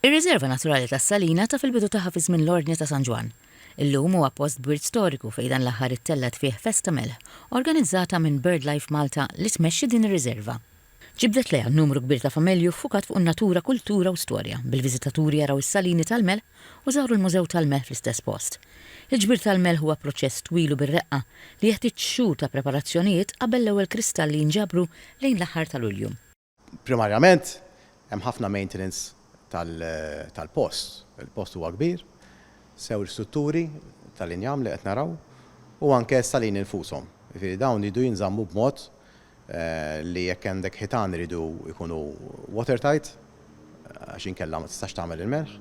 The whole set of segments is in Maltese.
Ir-Riżerva Naturali tas-Salina taf il-bidu tagħha fi żmien l-Ordni ta' San Ġwann. Illum huwa post b'wirt storiku fejn dan l-aħħar ittellgħet fih festa melħ organizzata minn BirdLife Malta li tmexxi din ir-riżerva. Ġibdet lejha numru kbir ta' familji u ffukat fuq in-natura, kultura u storja, bil-viżitaturi jaraw is-salini tal-melħ u żaru l-mużew tal-melħ fl-istess post. Il-ġbir tal-melħ huwa proċess twil u bir-reqqa li jeħtieġ xhur ta' preparazzjonijiet qabel l-ewwel kristalli jinġabru lejn l-aħħar ta' Lulju. Primarjament, hemm ħafna maintenance tal-post. Il-post huwa kbir, sew l-istrutturi tal-injam li qed naraw u anke s-salini infushom. Jiġifieri dawn jridu jinżammu b'mod li jekk għandek ħitan iridu jkunu water tight għax inkella ma tistax tagħmel il-melħ.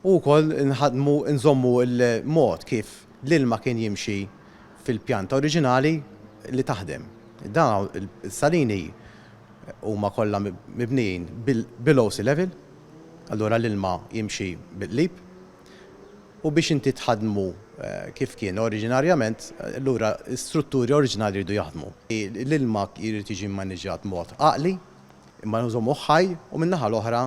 U wkoll inħaddmu, inżommu l-mod kif l-ilma kien jimxi. fil-pjanta oriġinali li taħdem. Dawn is-salini huma kollha mibnijin below sea level, allura l-ilma jimxi bil-qlib, u biex inti tħaddmu kif kien oriġinarjament, allura l-istrutturi oriġinali jridu jaħdmu. L-ilma jrid jiġi mmaniġġat b'mod għaqli, imma nżommuh ħaj u min-naħa l-oħra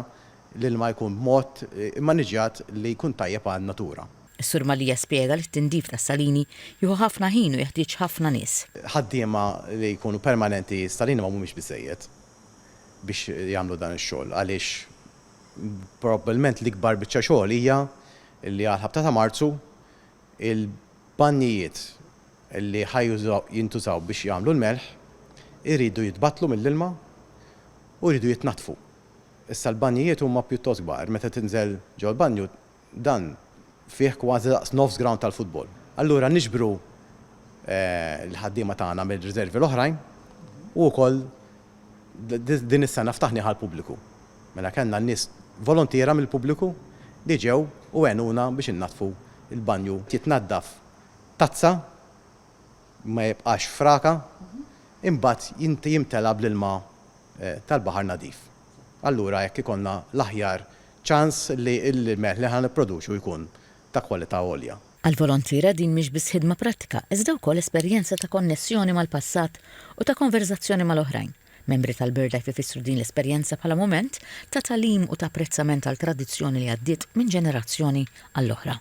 L-ilma jkun b'mod immaniġġjat li jkun tajjeb għan-natura. Is-Sur Mallia spjega li t-tindif tas-salini jieħu ħafna ħin u jeħtieġ ħafna nies. Ħaddiema li jkunu permanenti, s-salini ma mhumiex biżżejjed biex jagħmlu dan ix-xogħol għaliex probabbilment l-ikbar biċċa xogħol hija li għall-ħabta ta' Marzu il-banjijiet li ħa jintużaw biex jagħmlu l-melħ iridu jitbattlu mill-ilma u jridu jitnaddfu Issa l-banjijiet huma pjuttost kbar, meta tinżel ġol-banju dan fih kważi daqs nofs grawnd tal-futbol. Allura niġbru l-ħaddiema tagħna mir-riservi l-oħrajn u wkoll din is-sena ftaħnieh għall-pubbliku. Mela kellna n-nies volontiera mill-pubbliku li ġew u għenuna biex innaddfu l-banju. Jitnaddaf tazza ma jibqax fraka, imbagħad jimtela bl-ilma tal-baħar nadif. Allura hekk ikollna l-aħjar ċans li l-melħ li ħa nipproduċu jkun ta' kwalità għolja. Għall-volontiera din mhix biss ħidma prattika iżda wkoll esperjenza ta' konnessjoni mal-passat u ta' konverżazzjoni mal-oħrajn. Membri tal-BirdLife ifissru din l-esperjenza bħala mument ta' tagħlim u ta' apprezzament għal tradizzjoni li għaddiet minn ġenerazzjoni għall-oħra.